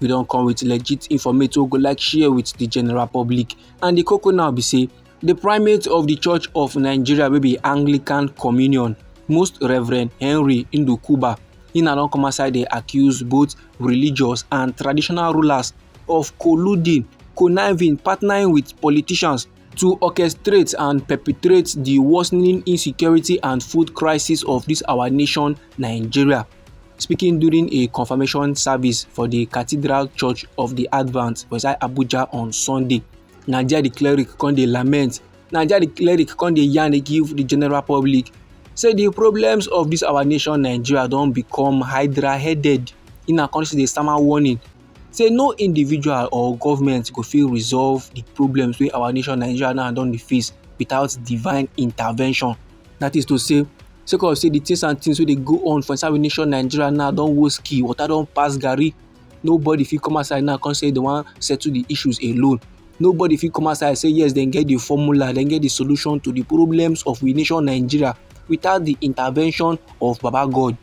we don come with legit informate wey we go like share with the general public and the koko now be say the primate of the church of nigeria wey be anglican communion most reverend henry ndukuba he na don come outside dey accuse both religious and traditional rulers of colluding conniving partnering with politicians to orchestrate and perpetrate the worsening insecurity and food crisis of this our nation nigeria Speaking during a confirmation service for the Cathedral Church of the Advent for inside Abuja on Sunday, Naija the cleric come dey lament, Naija the cleric come dey yarn dey give the general public say the problems of this our nation Nigeria don become hydra-headed. In a country dey stammer warning say no individual or government go fit resolve the problems wey our nation Nigeria now don dey face without divine intervention. That is to say, sake of say the things and things wey dey go on for inside nation Nigeria now don worse key, water don pass garri. Nobody fit come outside now come say they wan settle the issues alone. Nobody fit come outside say yes dem get the formula, dem get the solution to the problems of we nation Nigeria without the intervention of Baba God.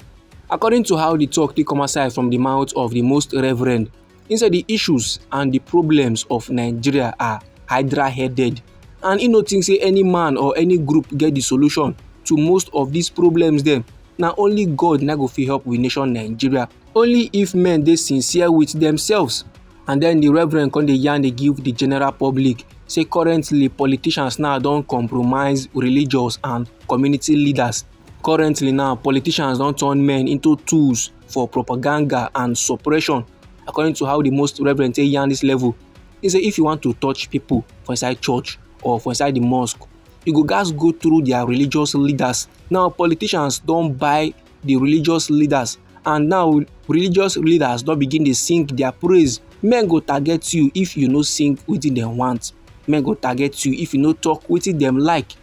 According to how the talk take come outside from the mouth of the most reverend He said the issues and the problems of Nigeria are hydra-headed and he no think say any man or any group get the solution to most of these problems Then, now only God na go fit help we nation Nigeria. Only if men dey sincere with themselves and then the reverend come dey yarn dey give the general public say currently politicians now don compromise religious and community leaders currently now politicians don turn men into tools for propaganda and suppression according to how the most reverend take yarn this level he say if you want to touch people for inside church or for inside the mosque you go gats go through their religious leaders now politicians don buy the religious leaders and now religious leaders don begin dey sing their praise men go target you if you no sing wetin dem want men go target you if you no talk wetin dem like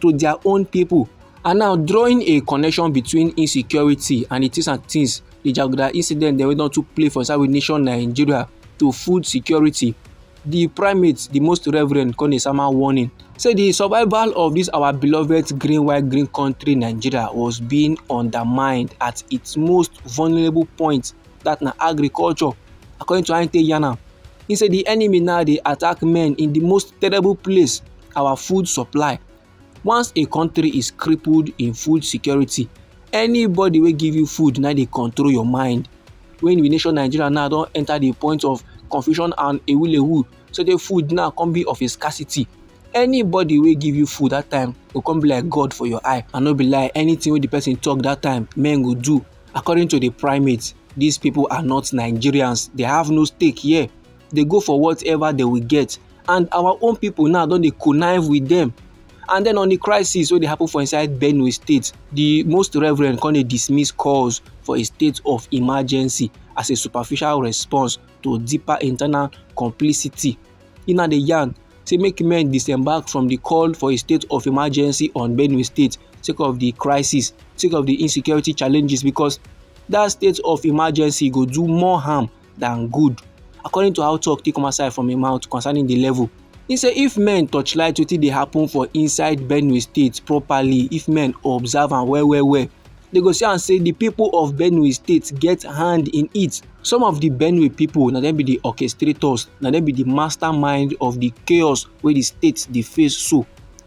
to their own people and now drawing a connection between insecurity and the things and things the jaguda incident dem wey don too play for inside nation nigeria to food security the primate the most reverend come dey sama warning say the survival of this our beloved green white green country nigeria was being undermined at its most vulnerable point that na agriculture according to how he take yarn am he say the enemy now dey attack men in the most terrible place our food supply once a country is crippled in food security anybody wey give you food na dey control your mind when we nation nigeria now don enter the point of confusion and ewulewu so the food now come be of a scarcity anybody wey give you food that time go come be like god for your eye and no be lie anything wey the person talk that time men go do according to the primate these people are not nigerians they have no stake here they go for whatever they will get and our own people now don dey connive with them and then on the crisis wey dey happen for inside benue state the most reverend come dey dismiss calls for a state of emergency as a superficial response to deeper internal complicity e now dey yarn say make men disembark from the call for a state of emergency on benue state sake of the crisis sake of the insecurity challenges because that state of emergency go do more harm than good according to how talk take come outside from im mouth concerning the level He say if men torchlight wetin dey happen for inside benue state properly if men observe am well well well they go see am say the people of benue state get hand in it some of the benue people na dem be the orchestrators na dem be the mastermind of the chaos wey the state dey face so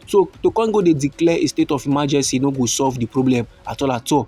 so to come go dey declare a state of emergency no go solve the problem at all at all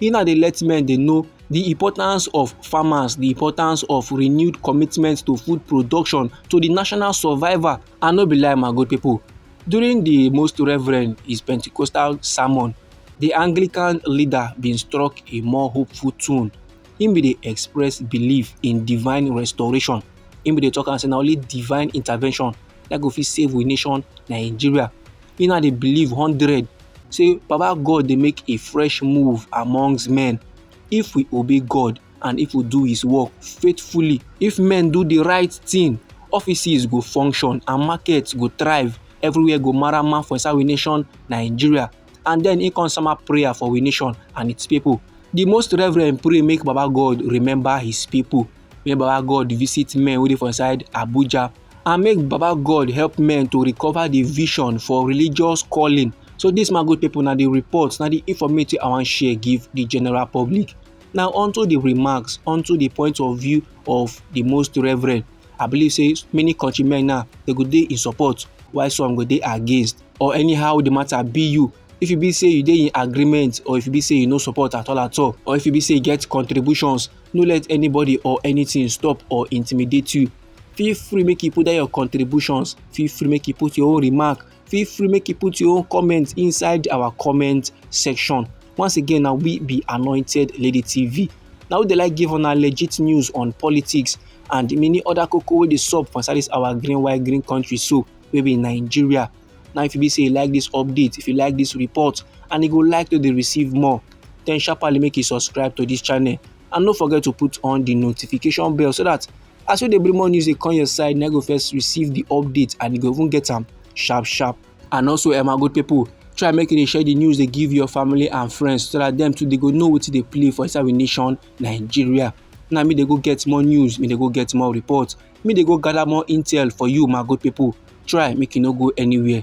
he now dey let men dey know the importance of farmers the importance of renewed commitment to food production to the national survival and no be lie my good people during the most reverend his pentecostal sermon the anglican leader bin struck a more hopeful tone him bin dey express belief in divine restoration him bin dey talk am say na only divine intervention na go fit save we nation nigeria me now dey believe hundred say baba god dey make a fresh move amongst men if we obey god and if we do his work faithfully if men do the right thing offices go function and markets go thrive everywhere go marama for inside we nation nigeria and then he come sama prayer for we nation and its people the most reverend pray make baba god remember his people make baba god visit men wey dey for inside abuja and make baba god help men to recover the vision for religious calling so this my good people na the report na the informative i wan share give the general public now onto the remarks onto the point of view of the most reverend i believe say many countrymen now they go dey in support while some go dey against or anyhow the matter be you if you be say you dey in agreement or if you be say you no support at all at all or if you be say you get contributions no let anybody or anything stop or intimidate you feel free make you put there your contributions feel free make you put your own remark feel free make you put your own comment inside our comment section once again na we be anointed lady tv na we dey like give una legit news on politics and many other koko wey dey sup for inside this our green white green country so wey be nigeria now if you be say you like this update if you like this report and you go like to dey receive more then sharply make you subscribe to this channel and no forget to put on the notification bell so that as we dey bring more news dey come your side na go first receive the update and you go even get am sharp sharp and also eh my good people try make you dey share the news dey give your family and friends so that dem too dey go know wetin dey play for inside we nation nigeria na me dey go get more news me dey go get more report me dey go gather more intel for you my good people try make you no go anywhere